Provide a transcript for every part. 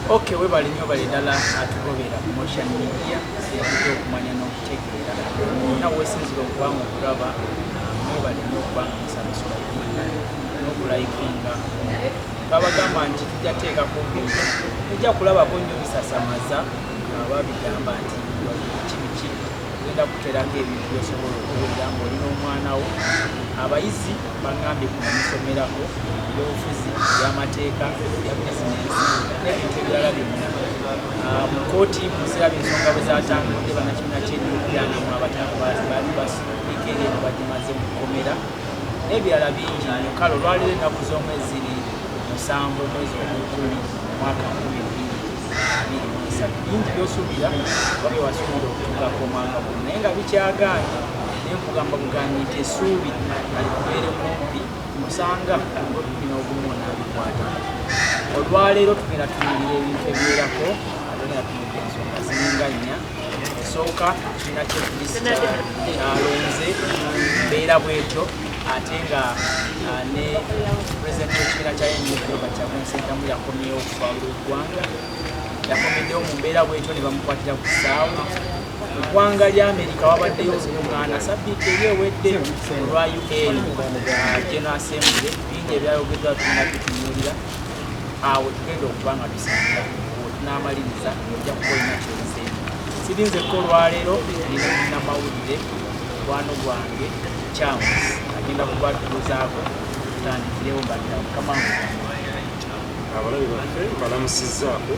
ok webale nyo bale dala atugobera motion media yakuja okumanya nokutegeera ona wesinzira okubanga okulaba mwebale nyo okubanga musabasula nokulayikinga babagamba nti tujateekako bintu ojja kulabako nyo bisasamaza babigamba nti kibiki ogenda kuterako ebintu byosobola okuwulira ngaoli n'omwana wo abayizi Bangambye kuno musomerako ebyobufuzi, ebyamateeka, ebya bizinensi n'ebintu ebirala byonna. Ah, mu kkooti muziraba ensonga bwe zatambudde bannakibiina ky'ebyobugyanamwe abatano baali basindika eri eno bagimaze mu kkomera n'ebirala bingi nnyo kale olwaliro ennaku z'omu eziri musanvu omwezi ogw'ekkumi mwaka nkumi bbiri abiri mu esatu bingi by'osuubira oba bye wasuubira okutuukako omwaka guno naye nga bikyagaanye naye nkugamba bugambi nti esuubi alikubeere kumpi musanga ngobbi n'ogumu onaabikwata olwaleero tugenda tunyirira ebintu ebiwerako atugenda tunyirira ensonga ziringa nnya esooka kibiina kyekulisikyalo kyalonze mbeera bwetyo ate nga ah, ne pulezidenti w'ekibiina kya nba kyakunsentamu yakomyewo okuva lw'eggwanga yakomeddewo mu mbeera bwetyo ne bamukwatira ku kisaawe Mu ggwanga lya Amerika wabaddeyo olukungaana sabbiiti eri ewedde olwa UN uh, General Assembly, bingi ebyayogeddwa tulina tutunuulira awo tugenda okuba nga tusangira n'amaliriza ojja kuba olina kyozeemu sirinzeko olwaleero nina munamawulire mukwano gwange kyamu agenda kubatuuzaako tutandikirewo mbanira mukama abalabe baffe mbalamusizaako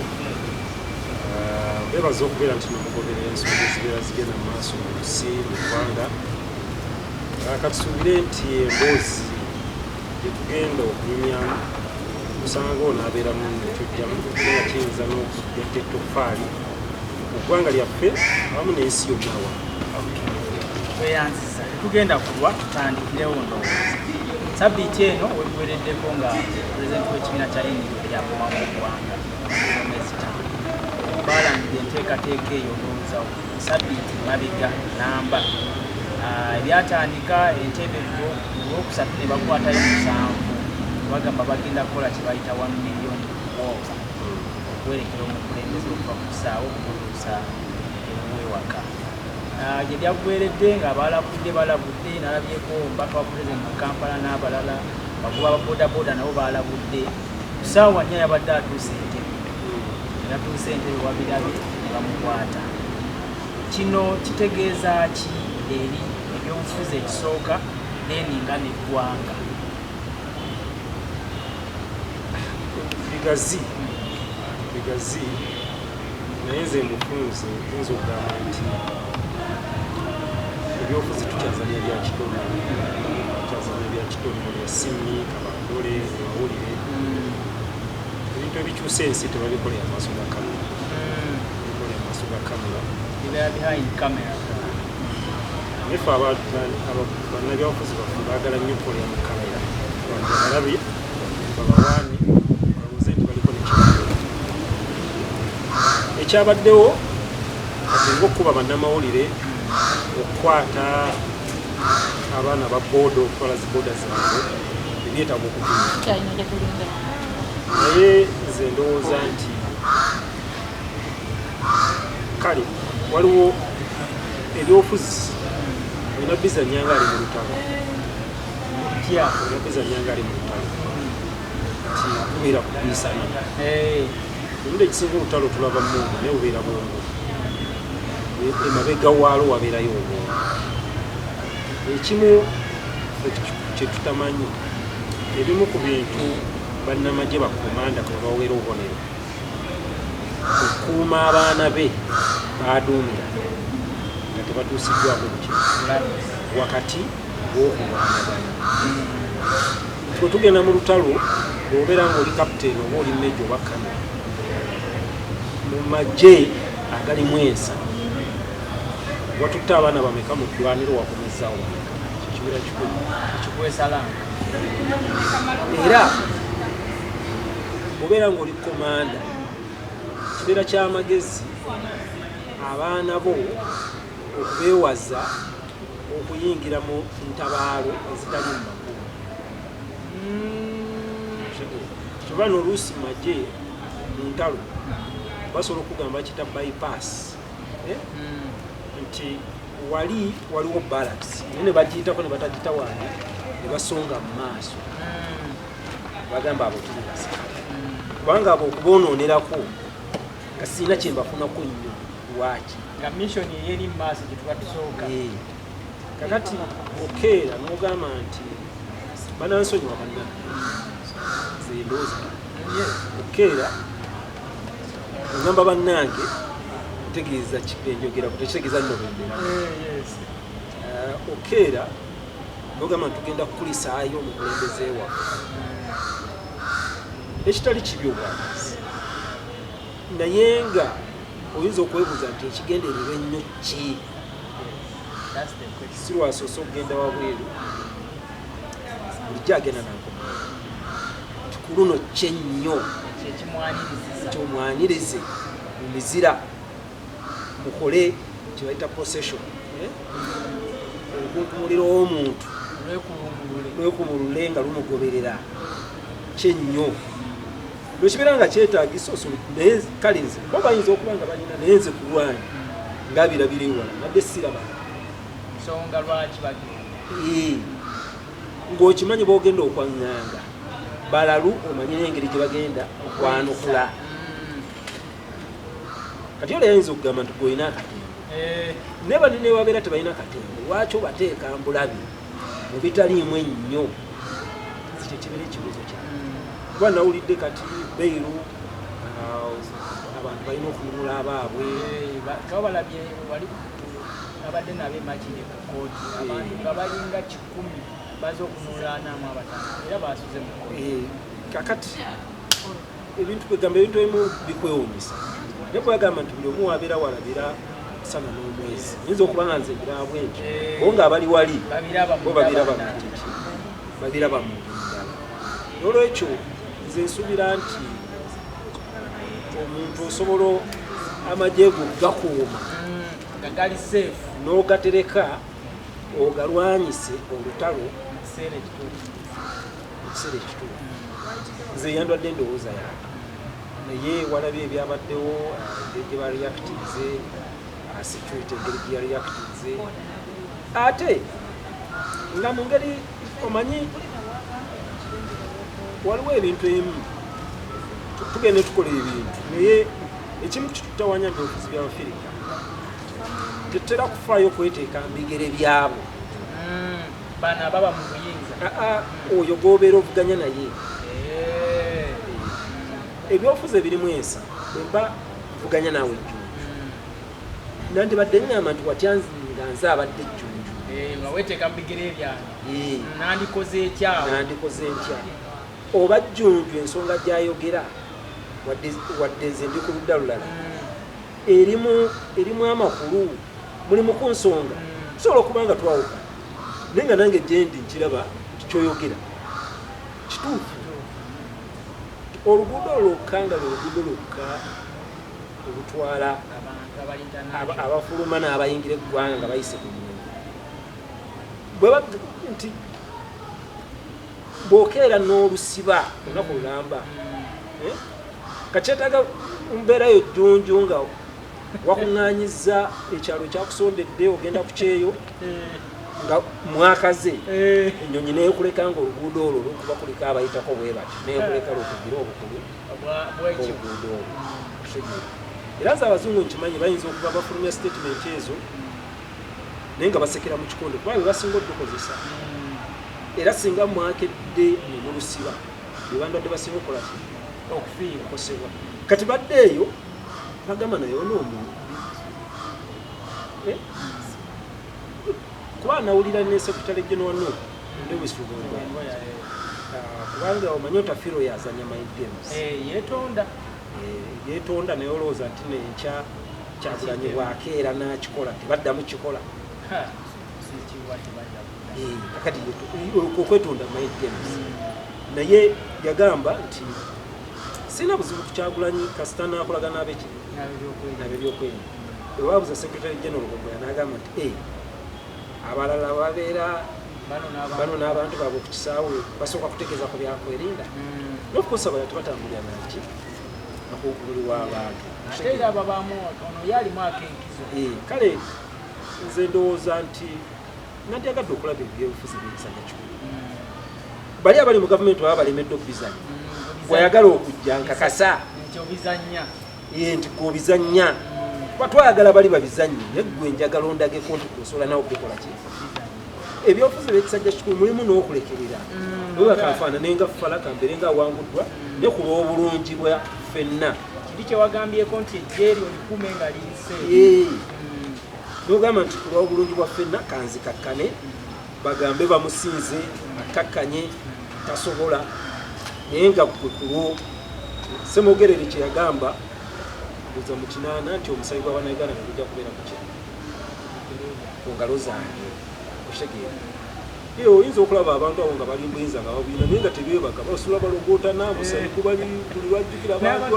bebaza okubeera nti nomugoberera ensonga ezibeera zigenda mu maaso mu nsi mu ggwanga katusuubire nti emboozi gyetugenda okunyumyamu osanga ono abeera mu kyojjamu era kiyinza n'okuyetta ettoffaali mu ggwanga lyaffe awamu n'ensi yonnawa tweyanziza tetugenda kulwa tutandikirewo ndowooza sabbiiti eno weguwereddeko nga pulezidenti w'ekibiina kya indi yakomamu oggwanga baalangira enteekateeka eyo olwoozawo sabiiti mabega namba ah, ebyatandika entebe lwo olwokusatu ne bakwatayo musanvu bagamba bagenda kukola kye bayita one million woka okuwerekera omukulembeze okuva ku kisaawo okuluusa ewuwewaka ah, gye byaggweredde nga balabudde balabudde nalabyeko omubaka wa pulezidenti mu kampala n'abalala bakuba ababodaboda nabo balabudde Ku ssaawa nnya yabadde atuuse Entebbe bwe yatuuse Entebbe babirabye ne bamukwata. Kino kitegeeza ki eri ebyobufuzi ekisooka then nga n'eggwanga? Bigazi bigazi naye nze mufunze nze okugamba nti ebyobufuzi tukyazanya bya kitono tukyazanya bya kitono bya simiika Dole amawulire ebintu ebikyusa ensi tebabikolera amaaso ga kamera bikolera amaaso ga kamera nefe bannabyabufuzi baffe baagala nnyo okukolera mu kamera abalabi babawaani balowooze nti baliko nekibadde ekyabaddewo atenga okukuba bannamawulire okukwata abaana ba boda okutwala zi boda zaabwe ebyetaaga okugula naye nze ndowooza nti kale waliwo ebyobufuzi olina biza nyanga ali mu lutalo otya olina biza nyanga ali mu lutalo nti kubeera kubiisana Olundi ekisinga olutalo tulaba mungu naye obeera bwongo emabega waalo wabeerayo obwongo ekimu kyetutamanyi ebimu ku bintu bannamagye bakomanda kwe baweera obubonero okukuuma abaana be baaduumira nga tebatuusiddwako bukyo wakati gw'okulwanagana nti bwe tugenda mu lutalo bw'obeera ng'oli kapiteeni oba oli meja oba kano mu magye agalimu ensa watutte abaana bameka mu ddwaniro wakomezaawo kibeera kikulu ekikwesala era obeera ng'oli komanda kibeera ky'amagezi abaana bo okubeewaza okuyingira mu ntabaalo ezitali mu kuba noluusi maje muntalo basobola okugamba kita bypass eh? hmm. nti wali waliwo balance naye nebagiyitako nebatagita wani nebasonga mu maaso hmm. bagamba abo tuliasa hmm. kubanga abo okuboononerako nga sirina kyembafunako nnyo lwaki nga mission eyeri maaso gyetuba tusooka kakati okeera nogamba nti banansonyiwa banna zendooza okeera ogamba bannange ntegeeza enjogera kutekitegeeza nno bendera okeera nogamba nti tugenda kukulisaayo omukulembeze waffe ekitali kibi obwagazi naye nga oyinza okwebuuza nti ekigendererwa ennyo ki sirwasoose okugenda wabweru bulijjo agenda nako nti ku luno kyennyo nti omwanirize mu mizira mukole kyebayita procession eh? okunkumulira omuntu lwekumulule nga lumugoberera kyennyo bwekibeera nga kyetagisa osobola naye kale nze bo bayinza okuba nga balina naye nze kulwanyi nga birabira ewala nabye siraba nsonga lwaki bagenda ng'okimanyi bogenda okwanganga balalu omanyira engeri gye bagenda okwanukula kati ola yayinza okugamba nti golina akatembo eh. naye bali newabeera tebalina katembo lwaki obateeka mbulabi mubitaliimu ennyo ekyo kibeera ekibuzo kya kuba nawulidde kati beiru uh, abantu balina okununula abaabwe kabalabye wali abadde nabo emakiri ku kooti abantu nga balinga kikumi baza okunulaanamu abatano era basuze mu kooti eh, kakati ebintu kwegamba ebintu ebimu bikwewunyisa naye kwegamba nti buli omu wabeera walabira sana n'omwezi nyinza okuba nga nze birabw ekyo eh. bo nga abali wali bo babiraba mukiki babiraba mu ndala nolwekyo nze nsubira nti omuntu osobola amagye go gakuuma mm, n'ogatereka ogalwanyise olutalo ekiseera ekituufu nze yandwadde endowooza yange naye walabye ebyabaddewo engeri gye bareactinze security engeri gye yareactinze ate nga mu ngeri omanyi waliwo ebintu emu tugenda tukola ebintu naye ekimu kitutawanya nti obufuzi byabafirika tetutera kufaayo okweteeka mu bigere byabo bano ababa mu buyinza ah, ah, oyo gobeera ovuganya naye eh. ebyofuza ebirimu ensa bwemba vuganya naawe ejjunju hmm. nandibadde ngamba nti watya nga nze abadde ejjunju eh, nga weteeka mu bigere ebyange eh. nandikoze ekyawo nandikoze ntya oba jjunju ensonga gyayogera wadde nze ndi ku ludda lulala hmm. erimu erimu amakulu mulimu ku nsonga tusobola okuba nga twawuka naye nga nange gyendi nkiraba nti kyoyogera kituufu oluguudo lwokka nga lweluguudo lwokka olutwala abafuluma n'abayingira eggwanga nga bayise ku nti bwokeera n'olusiba olunaku lulamba eh? kakyetaga mbeera yo jjunju nga wakuŋŋanyiza ekyalo kyakusondedde ogenda ku kyeyo nga mwakaze eh. ennyonyi neekuleka nga oluguudo olwo lwokuba kuliko abayitako bwe bati neekuleka lwokugira obukulu obuguudo olwo era nze abazungu nkimanyi bayinza okuba bafulumya sitatimenti ezo naye nga basekera mu kikonde kuba bebasinga odukozesa mm. era singa mwakedde nemulusiba bebandwadde basinga okukola ki okufiira okosebwa kati badde eyo bagamba naye ona omuntu eh? kuba anawulira ne secretary general no lewis lugongo ah, kubanga omanyi otafiro yazanya my games eh, yetonda eh, yetonda naye olowooza nti nenkya kyagulanyi bwakeera nakikola tebaddamu kikola eh, kakati okwetonda my games hmm. naye yagamba nti sina buzibu kukyagulanyi kasita nakolaga nabeki nabebyokwerinda ewabuza secretary general gomboya nagamba nti eh, abalala babeera bano n'abantu baabwe ku kisaawe basooka kutegeeza ku byakwerinda hmm. nokukosa bala tebatambulira naki nakugululi w'abantu eh, kale nze ndowooza nti nandyagadde okulaba ebyobufuzi byebisajja kikulu hmm. bali abali mu gavumenti baba balemedde okubizanya hmm, gweyagala okujja nkakasa ye nti gobizanya kuba twayagala bali babizanyi naye gwe enjagala ondageko nti osobola nawe okukola ki ebyobufuzi ebyekisajja kikulu mulimu n'okulekerera mm. oba kanfaana naye nga fala kambeere nga awanguddwa ne ku lw'obulungi bwa ffenna kiri kyewagambyeko nti ejjeeri olikume nga liyise mm. nogamba nti ku lw'obulungi bwa ffenna kanzikakkane bagambe bamusinze akkakkanye tasobola naye nga kwe kulwo semogerere kye yagamba buza mu kinaana nti omusayi gwa banauganda ne gujja kubeera ku kya ku ngalo zange okitegeera ee oyinza okulaba abantu abo nga bali mbuyinza nga babuyina naye nga tebeebaka basula balogootana musayi kubali buli lwajjukira abantu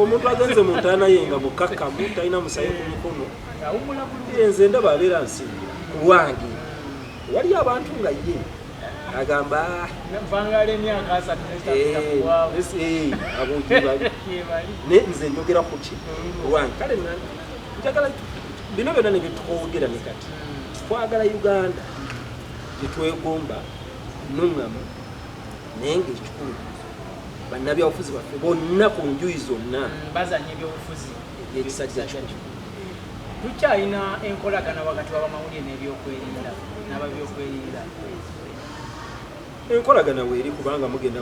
omuntu agenze mu ntaana ye nga mukakkamu talina musayi ku mikono nze ndaba abeera nsingira ku lwange Waliyo abantu nga ye agamba navangala emyaka asatu naye nze njogera kuki owange kale njagala bino byona nebyetwogera ne kati twagala uganda gyetwegomba nuŋamu naye nga ekikulu bannabyabufuzi baffe bonna ku njuyi zonna mm, bazanya ebyobufuzi ebyekisajja kikulu Tukyalina enkolagana wakati w'abamawulire n'ebyokwerinda n'ababyokwerinda. Enkolagana weeri kubanga mugenda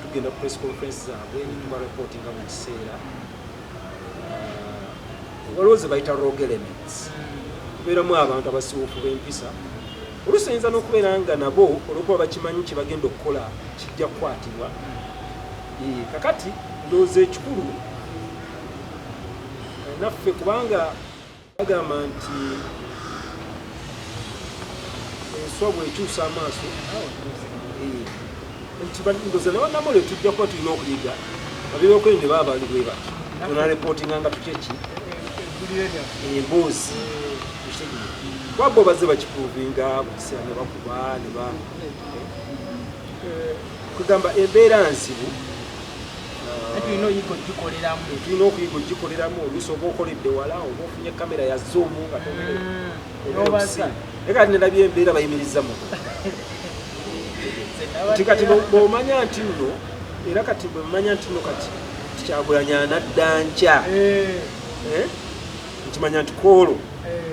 tugenda ku press conference zaabwe netuba report nga mu kiseera uh, waliwo ze bayita rog elements kubeeramu abantu abasiwufu b'empisa oluusi oyinza n'okubeera nga nabo olwokuba bakimanyi kyebagenda okukola kijja kukwatibwa kakati ndowooza ekikulu naffe kubanga bagamba nti enswa bwekyusa amaaso nti ndoza nabanamole tujja kuba tulina okuyiga abebyokwende baba bali bwe bati tunarepotinga nga tukyeki emboozi wabbo bazze bakipuvinga bukisera ne bakuba ne ba kugamba embeera nzibu tulina oyiga ogikoleramu tulina okuyiga ogikoleramu oluusi oba okoledde wala oba ofunye kamera ya zoomu nga tobaza mm. naye kati nalabye embeera bayimiriza mu nti kati bwomanya nti nno era kati bwemanya nti nno kati tikyagulanya nadda nkya eh. Eh? nkimanya nti kwolwo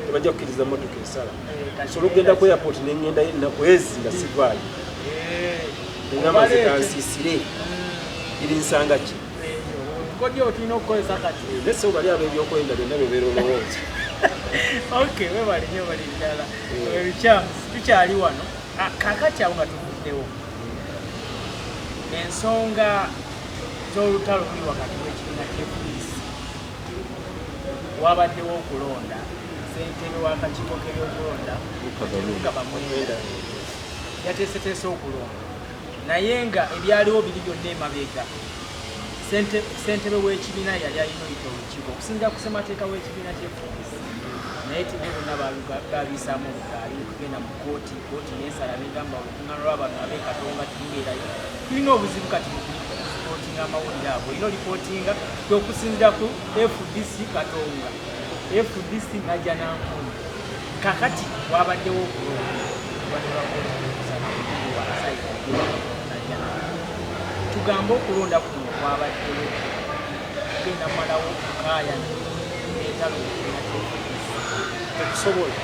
tebajja kukiriza motoka esala nsobola okugenda ku airport nengendayo ennaku ezi nga sivaayo engamba zekansisire iri nsanga ki nese obali abo ebyokwenda byonna bebeera olowooza tukyali wano ah, kakati awo nga tuvuddewo ensonga z'olutalo luli wakati w'ekibiina kyepoliisi Wabaddewo okulonda ssentebe w'akakiiko k'ebyokulonda Lukaba Mwenda yateeseteese okulonda naye nga ebyaliwo biri byonna emabega ssentebe w'ekibiina yali alina oyita olukiiko okusinzira ku ssemateeka w'ekibiina kyefundisi naye tene bonna babisaamu obugaali okugenda mu kooti kooti nensala negamba olukungaana lw'abantu ab'e Katonga terubeerayo. Tulina obuzibu kati mukulipotinga amawulire ago, olina olipotinga okusinzira ku FDC Katonga, FDC najja nankumu. Kakati wabaddewo okulonda tugambe okulonda kuno kwabaddewo genda malawo kukaya entalo tekusobola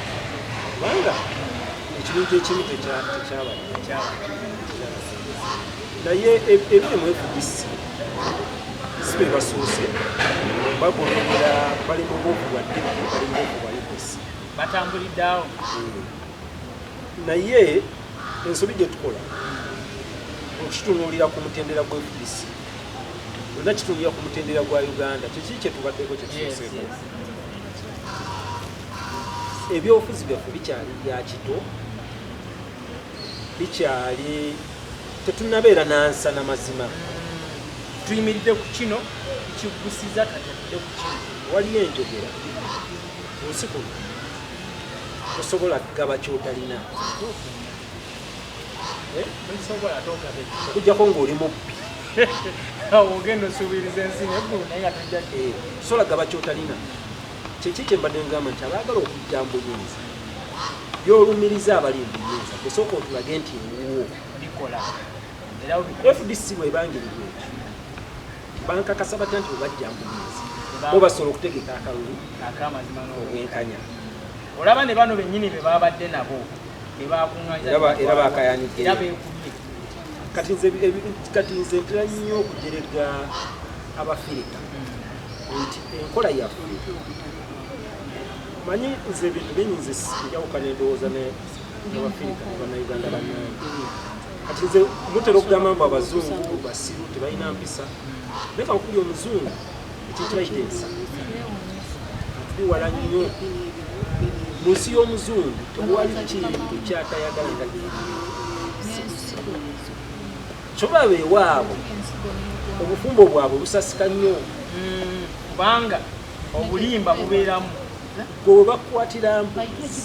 kubanga ekintu ekimu tekyaba naye ebiri mu fdc si be basuuse bagoberera bali mu buufu bwa ddibu bali mu buufu bwa udc batambuliddeawo hmm. naye ensobi gye tukola okukitunuulira ku mutendera gwa fdc olina kitunuulira ku mutendera gwa uganda kyekii kyetubaddeko kyekituseeko ebyobufuzi byaffe bikyali bya kito bikyali tetunabeera nansana mazima tuyimiridde ku kino kigusiza katadde ku kino waliyo enjogera kunsi kuno tosobola kugaba kyotalina okujjako ng'oli mubbi ogenda osuubiriza ensi neggulu naye nga tojja eh, sola gaba kyotalina kyeki kyembadde ngamba nti abaagala okujja mbuyinza byolumiriza abali mbuyinza kusooka otulage nti wuwo bikola fdc bwebangirirwa ekyo bankakasa batya nti bwebajja mbuyinza bo basobola okutegeka akalulu obwenkanya Olaba ne bano bennyini be baabadde nabo be baakuŋŋaanyiza Era ba- era baakayanidde. era beekubye kati nze ebi- kati nze ntera nnyo okujerega abafirika nti enkola yaffe manyi nze ebintu bingi nze njawukana endowooza ne- n'abafirika ne bannayuganda bannange kati nze mutera okugamba mbu abazungu basiru tebalina mpisa naye kankuli omuzungu ekikyaiteesa tuwala nnyo mu nsi y'omuzungu tewali kintu kyatayagala nga kyoba bewaabo obufumbo bwabwe busasika nnyo hmm, kubanga obulimba bubeeramu gwe webakukwatira mbuzi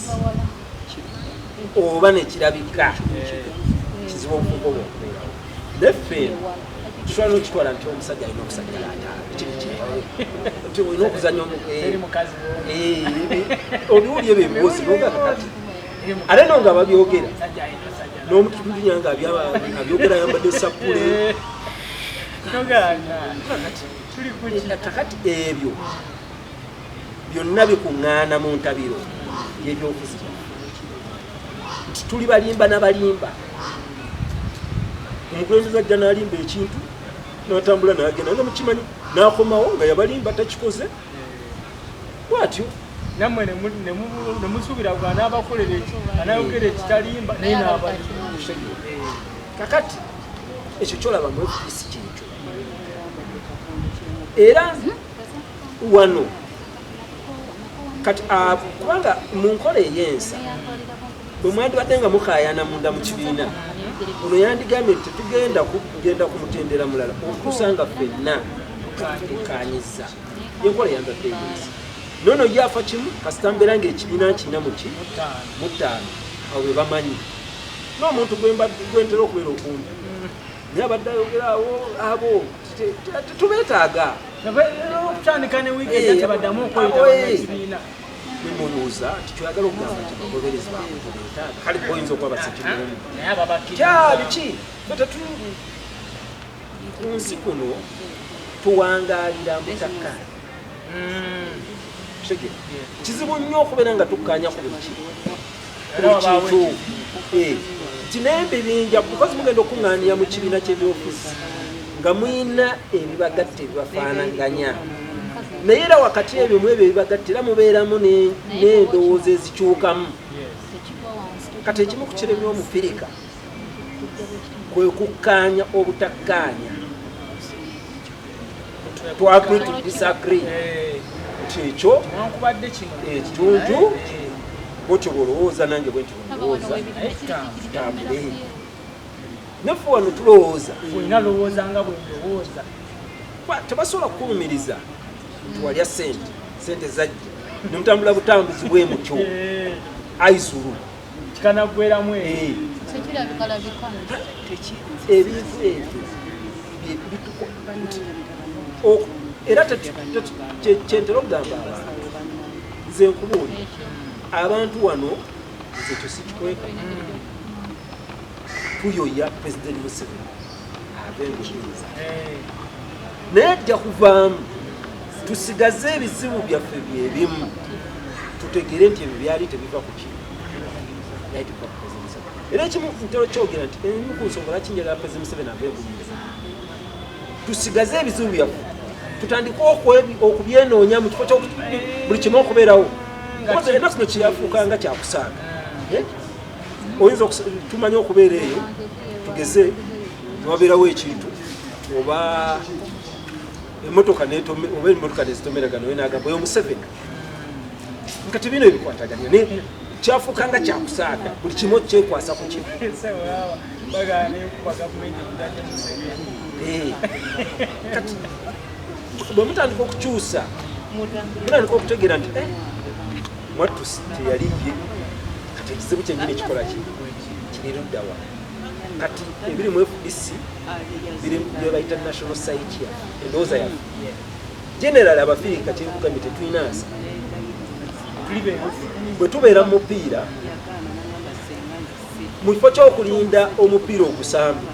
oba nekirabika kizibu obufumbo bwakubeerawo neffe Kishwana okitwala nti omusajja alina okusajja lataala kiri kyeyawe nti olina okuzanya omukazi obiwuli ebyo ebibuuzi nogakakati ate no nga babyogera n'omututunya nga abyogera ayambadde sappule kakati ebyo byonna bikuŋŋaana mu ntabiro yebyokuziba nti tuli balimba na balimba omukulembeze ajja nalimba ekintu natambula nagenda nga mukimanyi nakomawo nga yabalimba takikoze bwatyo namwe nemusubira gwa nabakolera eki anayogera ekitalimba naye nabali kakati ekyo kyolaba mu fdc kyekyo era wano kati ah, kubanga mu nkola ey'ensa bwe mwandibadde nga mukayana munda mu kibiina ono yandigambye nti tetugenda kugenda ku mutendera mulala okusa nga fenna tukanyiza yenkola yandadde ey'ensa nono ye afa kimu kasita mbeera ngaekibiina nkina muki mutaano awo bwe bamanyi n'omuntu gwentera okubeera okumpi naye abadde ayogera awo abo tetubetaaga okutandika ne wiiki ejja tebaddamu okweyitaekibiina mwemubuuza nti kyoyagala okugamba nti bagoberezi baabwe tebetaaga kale oyinza okuba basekimumu kyabiki betetuli ku nsi kuno tuwangaalira mutaka kizibu nnyo okubeera nga tukkaanya ku buli kimu ekintu eh, nti naye bibinja because mugenda okuŋŋaanira mu kibiina ky'ebyofiisi nga mulina ebibagatta ebibafaanaganya naye era wakati ebyo mu ebyo ebibagatta era mubeeramu n'endowooza ezikyukamu kati ekimu ku kiremya omufirika kwe kukkaanya obutakkaanya twagri to disagree nti ekyo ekitundu bwotyo bwolowooza nange bwenti bwolowooza tambule naffe wano tulowooza tebasobola kukulumiriza nti walya sente sente zajja nomutambula butambuzi bwemutyo aizulu kikanaggweramu ebintu ebyo era kyentera okugamba abantu nze nkubuuli abantu wano nze kyo sikikweka tuyoya president museveni ave mu buyinza naye ajja kuvaamu tusigaze ebizibu byaffe byebimu tutegere nti ebyo byali tebiva ku kino era ekimu ntera kyogera nti emu ku nsonga lwaki njagala pezi museveni ave buyinza tusigaze ebizibu byaffe tutandike okubyenoonya mu kifo kyobuli kimu okubeerawo enaku kino kyafuuka nga kyakusaaga eh? oyinza tumanya okubeera eyo tugeze wabeerawo ekintu oba emotoka oba emotoka nezitomeragana oyo nagamba oyo museveni nga tebina ebikwataganya naye kyafuuka nga kyakusaaga buli kimu kyekwasa ku kimu eh. bwemutandika okukyusa mutandika okutegeera nti eh, mwattusi teyali ye kati ekizibu kyenyini ekikola ki kiri luddawa kati ebiri mu fdc biri byebayita national site ya endowooza yafe general abafirika kyenkugambye tetulina nsa bwe tubeera mu mupiira mu kifo ky'okulinda omupiira ogusambi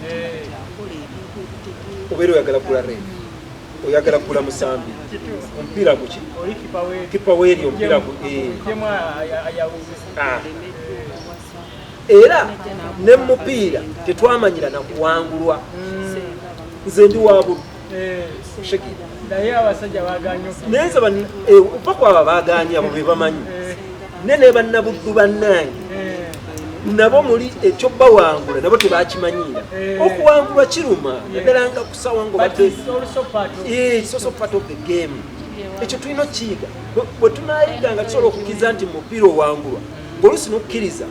obeera oyagala kugula rent oyagala kugula musambi omupiira guki kipa weeri omupiira eh. ah. era ne mumupiira tetwamanyira nakuwangulwa hmm. nze ndi wabulu eh. naye abasajja baganye naye nze eh, opa kwaba baganye abo bebamanyi ne nebannabuddu bannange nabo muli ekyobawangula nabo tebakimanyiira okuwangulwa kiruma naddala nga ku ekyo tulina okukiyiga bwe tunayiga nga tusobola okukiza nti mupiira owangulwa ngaolusi nokukkiriza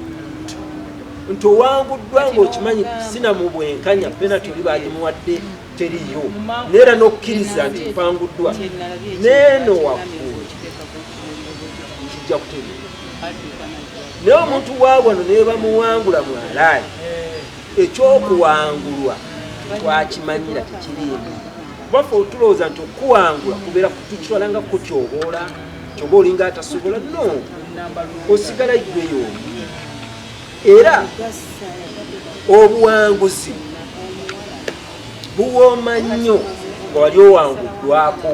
nti owanguddwa ngaokimanyi sina mu bwenkanya penati oli bagimuwadde teriyo neera nokukkiriza nti mpanguddwa neeno waggulu kijja kutegeera naye omuntu wa wano nebamuwangula mwalaani ekyokuwangulwa twakimanyira tekiriimu kubaffe otulowooza nti okuwangula kubeera tukitwala nga kutyoboola kyoba olinga atasobola no osigala gweyo era obuwanguzi buwooma nnyo nga wali owanguddwako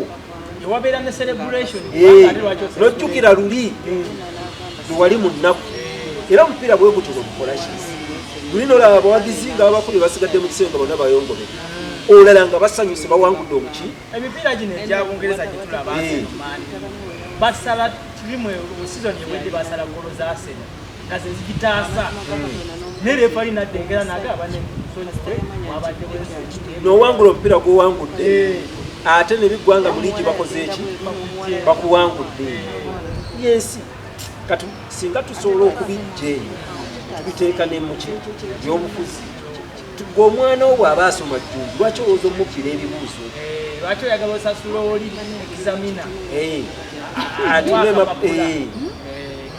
ewabeera ne celebration eh, nojjukira luli eh. lwewali mu nnaku eh. era omupiira bwe gutyo gwegukolaki luli nolaba abawagizi nga abakulu basigadde mu kiseera nga bonna bayongole olala nga basanyuse bawangudde omuki emipiira gino egya bungereza gyetulaba basala tirimu sizoni ewedde basala golo za asena nga ze zigitaasa naye refali nadda engera nagaba nowangula omupiira gwowangudde eh. ate nebiggwanga buligi bakoze eki bakuwangudde yensi kati singa tusobola okubijja eyo tubiteeka nemuki yobufuzi gwe omwana wo bwaba asoma jjunju lwaki owooza omukira ebibuuzo eh, lwaki oyagala osasula oli examina eh. ati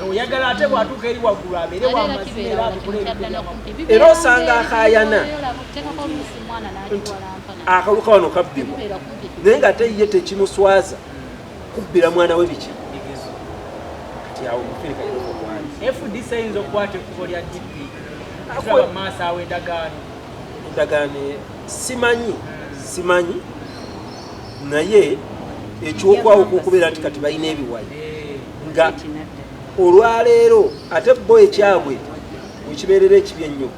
oyagala ate bwatuuka eri waggulu abeere wamazima era abikole era osanga akayana nti akaluka wano kabbibwa naye nga ate ye tekimuswaza kubbira mwana we biki kati awo mufirika fdc eyinza okukwata ekkubo lya dp maaso awo endagaano endagaano e, simanyi simanyi naye ekyokwawuka okubeera nti kati balina ebiwayi nga olwaleero ate bo ekyabwe wekibeerera ekibi ennyo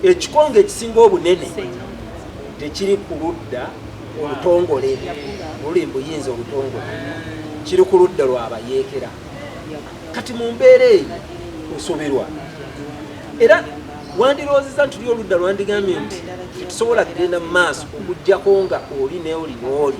ekikonge ekisinga obunene tekiri ku ludda olutongole luli mbuyinza olutongole kiri ku ludda lwabayeekera kati mu mbeera eyo osobirwa era wandiroozeza nti ly oludda lwandigambye nti tetusobola kugenda mu maaso okugjako nga oli neoli nooli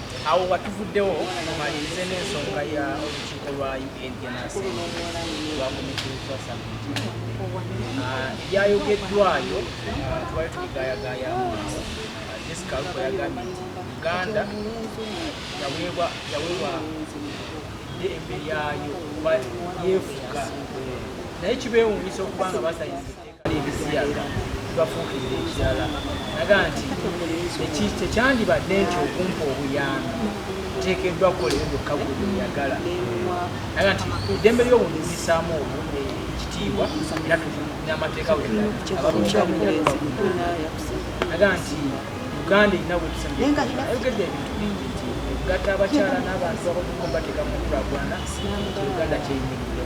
awo watuvuddewo mumalirize n'ensonga ya olukiiko lwa ungenasi lwakumikirizwa sabiti ebyayogeddwayo twali tubigayagayamu discal kwe yagambye nti uganda yaweebwa yaweebwa eddembe lyayo oba yeefuga naye kibeewuunyisa okuba nga basayizi ebiziyaga bafuukirira ekirala naga nti tekyandibadde nti okumpa obuyambi nteekeddwa kukolera byokka bweyagala naga nti eddembe ly'obuntu lisaamu obuntu ekitiibwa era n'amateeka naga nti uganda erina websayogedde ebintu bingi nti egatta abakyala n'abantu abakumu bateeka mu nkulaakulana uganda kyeyimirira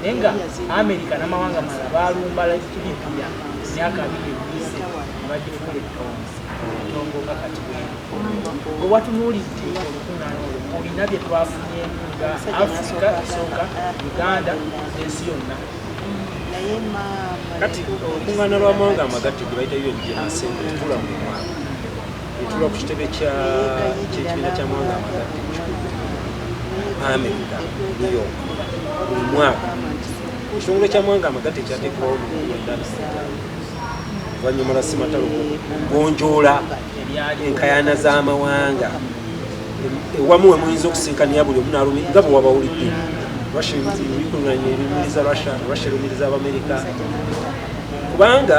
naye nga amerika namawanga mala balumba libya myaka abiri egiise nebagifuula etonzi etongo nga kati wewatunuulidde olukungana olwo olina byetwafunye nga afrika esooka uganda ensi yonna kati olukungana lwamawanga amagatte gwebaita yo egigenasente tula mu mwaka etuula ku kitebe kyekibiina kya mawanga amakadde amerika new york buli mwaka ekitongole kya mawanga amagatte kyateekawo oluvanyuma lwa simatalo gonjoola enkayana z'amawanga ewamu we muyinza okusinkania buli omu nalumi nga bwe wabawulidde russia bikulunanya ebimiriza russia russia lumiriza abamerika kubanga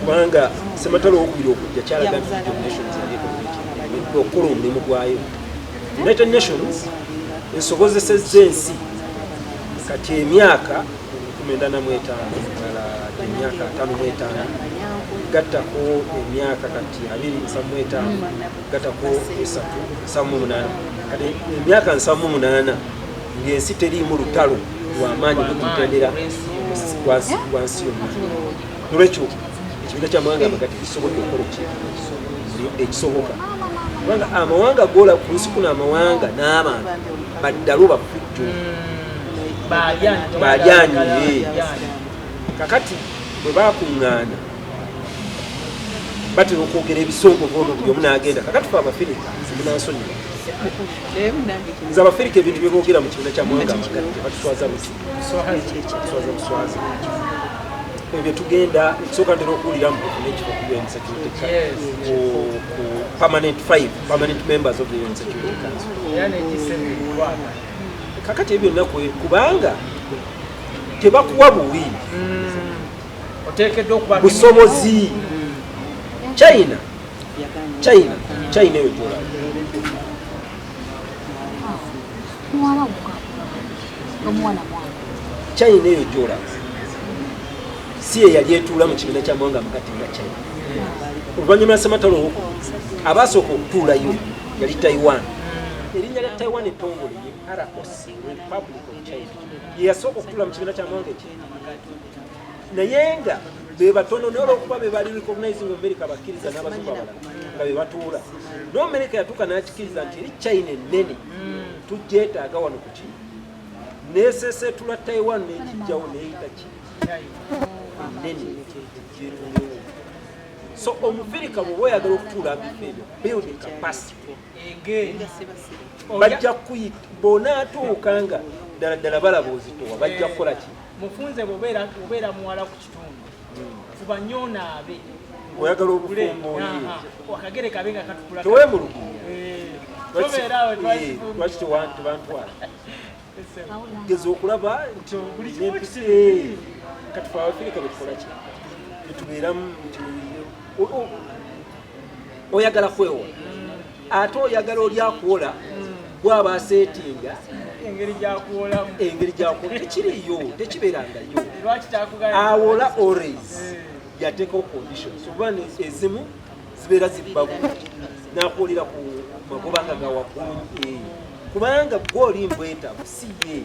kubanga sematalo owokubiri okujja kyalaga nti united nations yaleeta okukola omulimu gwayo united nations esobozesezza ensi kati emyaka kumendana mwetaano ddala emyaka ataano mwetaano gattako emyaka kati abiri nsa mwetaano gatako esatu nsamu munana kati emyaka nsamu munana ngaensi teriimu lutalo lwamaanyi gututendera wansi yonna nolwekyo ekibiina kyamawanga amagati kisobodde okukola ekintu ekisoboka kubanga amawanga gola ku nsi kuno amawanga n'abantu baddalo bafujjo balyanyi kakati bwe bakuŋŋaana batera okwogera ebisongovu ono buli omu n'agenda kakati fe abafirika simunansonyiwa nze abafirika ebintu byeboogera mu kibiina kya mwanga batuswaza buswaza buswaza ebyo tugenda ekisooka ntera okuwulira mu nekifo ku un security ku permanent five permanent members of the un security council kakati ebyo naku kubanga tebakuwa buwi mm. busobozi china china china eyo gyolaba china eyo gyolaba si eyali etuula mu kibiina kya mwanga mukati nga china oluvannyuma lwasematalo abaasooka okutuulayo yali taiwan erinnya lya taiwan etongole ye roc republic of china yeyasooka okutuula mu kibiina kya mwanga eki naye nga bebatono naye olwokuba bebali recognizing america bakkiriza n'abazungu abalala nga bebatuula no america yatuuka n'akikiriza nti eri china ennene mm. tugyetaaga wano ku kino nesesetula taiwan nekijjawo neyita ki ennene gyetulewo so omufirika bwoba oyagala okutuula mbifa ebyo building capacity bajja kuyita bonaatuuka nga ddala ddala balaba ozitowa bajja kukola kino mufunze bwobeera obeera muwala ku kitundu fuba nnyo onaabe oyagala obufumbo akagere kabe nga katukula tewemulugunya eh, lwaki tebantwala geza okulaba nti empisi katufe abafirika betukolaki betubeeramu nti oyagala kwewola ate oyagala oli akuwola bwaba asetinga engeri gyakuwolamu engeri gyakuwola tekiriyo tekibeerangayo awola ores eh. yateekawo conditions oba ezimu zibeera zibba bulungi nakuwolera ku magoba nga gawaggulu eh. kubanga gwe oli mbwetabu si ye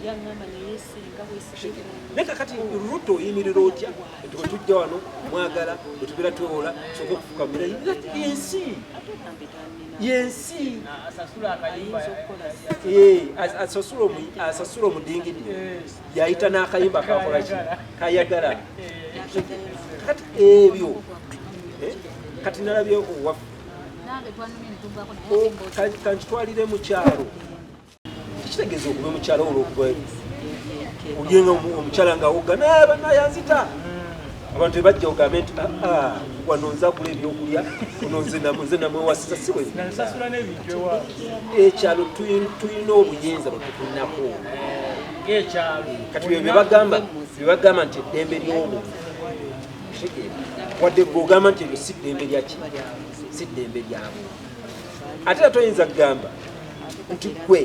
naye kakati ruto oyimirira otya tuba tujja wano mwagala bwetubeera twewola soka okufuka mulayi yensi yensi asasula omudingidi yayita n'akayimba kakolaki kayagala kati ebyo eh, kati nalabye owaffe kankitwalire mukyalo tekitegeeza ogube mukyala olwokuba olyenga omukyala nga wogga nayabannayanzita abantu ebajja ogambe nti aa ah, ah, wano nzagula ebyokulya ono nze namwewasiza si ekyalo tulina obuyinza bwetukulinako kati byo byebagamba byebagamba nti eddembe ly'omuntu wadde gwe ogamba nti ebyo si ddembe lyaki si ddembe lyabwe ate atoyinza kugamba nti gwe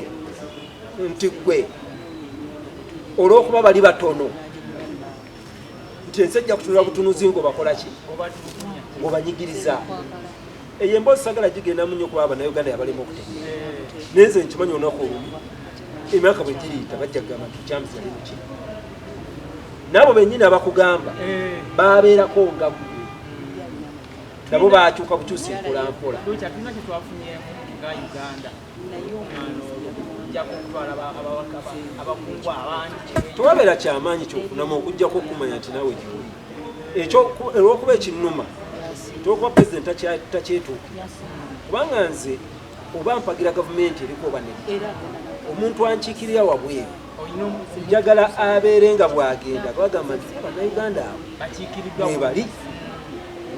nti gwe olwokuba bali batono nti ensi ejja kutunula butunuzi nga obakolaki obanyigiriza eyo emboozi sagala gigendamu nyo kuba banauganda yabalema okutegera naye nze nkimanyi olunaku olumu emyaka bwe giriita bajja kugamba nti james yali muki naabo benyini abakugamba babeerako nga gwe nabo batuuka bukyusa empolampola nga uganda naye omwana tewabera kyamaanyi kyokunamu okujjako okumanya nti nawe gyoli ekyo olwokuba ekinuma tolwokuba president takyetuukira kubanga nze oba mpagira gavumenti eriko oba ne omuntu ankiikirira wabweru njagala abeere nga bwagenda bagamba nti banauganda abo mwebali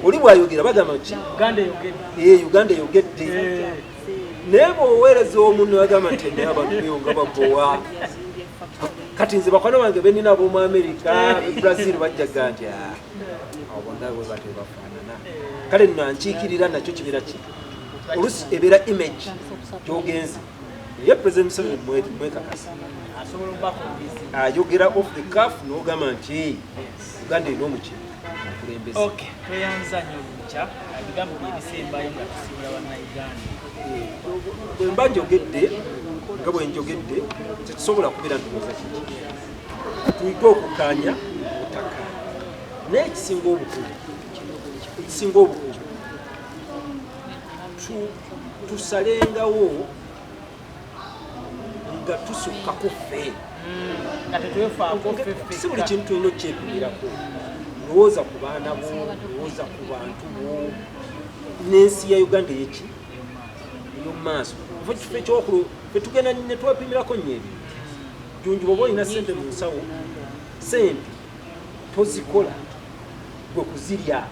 oli bwayogera bagamba nti uganda eyogedde eh, naye bwoweereza omuntu agamba nti naye abantu beyonga bagowa kati nze bakwano bange benina abomu amerika eh. brazil bajjaga nti ah, abonabwe batebafaanana kale nankiikirira nakyo kibeera ki olusi ebeera image gyogenze naye president museveni mwekakasa ayogera off the caf nogamba nti uganda erina omukyere bwemba njogedde nga bwenjogedde tetusobola kubeera ntuoza kiki tuyige okukanya otaka naye ekisinga obukulu ekisinga obukulu tusalengawo nga tusukka ku ffe hmm, si buli kintu tulina okukyepimirako lowooza ku baana bo lowooza ku bantu bo n'ensi ya uganda eyeki eyomumaaso ova kifo ekyokulu fetugenda netwepimirako nyo ebintu junju oba olina sente mu nsawo sente tozikola gwe kuzirya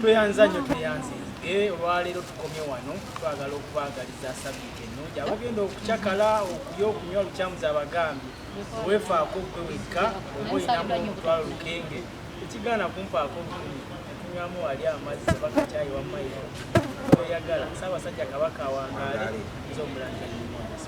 tweyanza nnyo tweyanze nzige olwaleero tukomye wano twagala okubaagaliza sabiiti ennungi abagenda okucakala okulya okunywa lukyamuza abagambye weefaako gwe wekka oba olinamu omutwalo lukenge ekigaana kumpaako lukumi tunywamu wali amazzi oba kakyayi wammairo oyagala saabasajja kabaka awangaale nze omulangira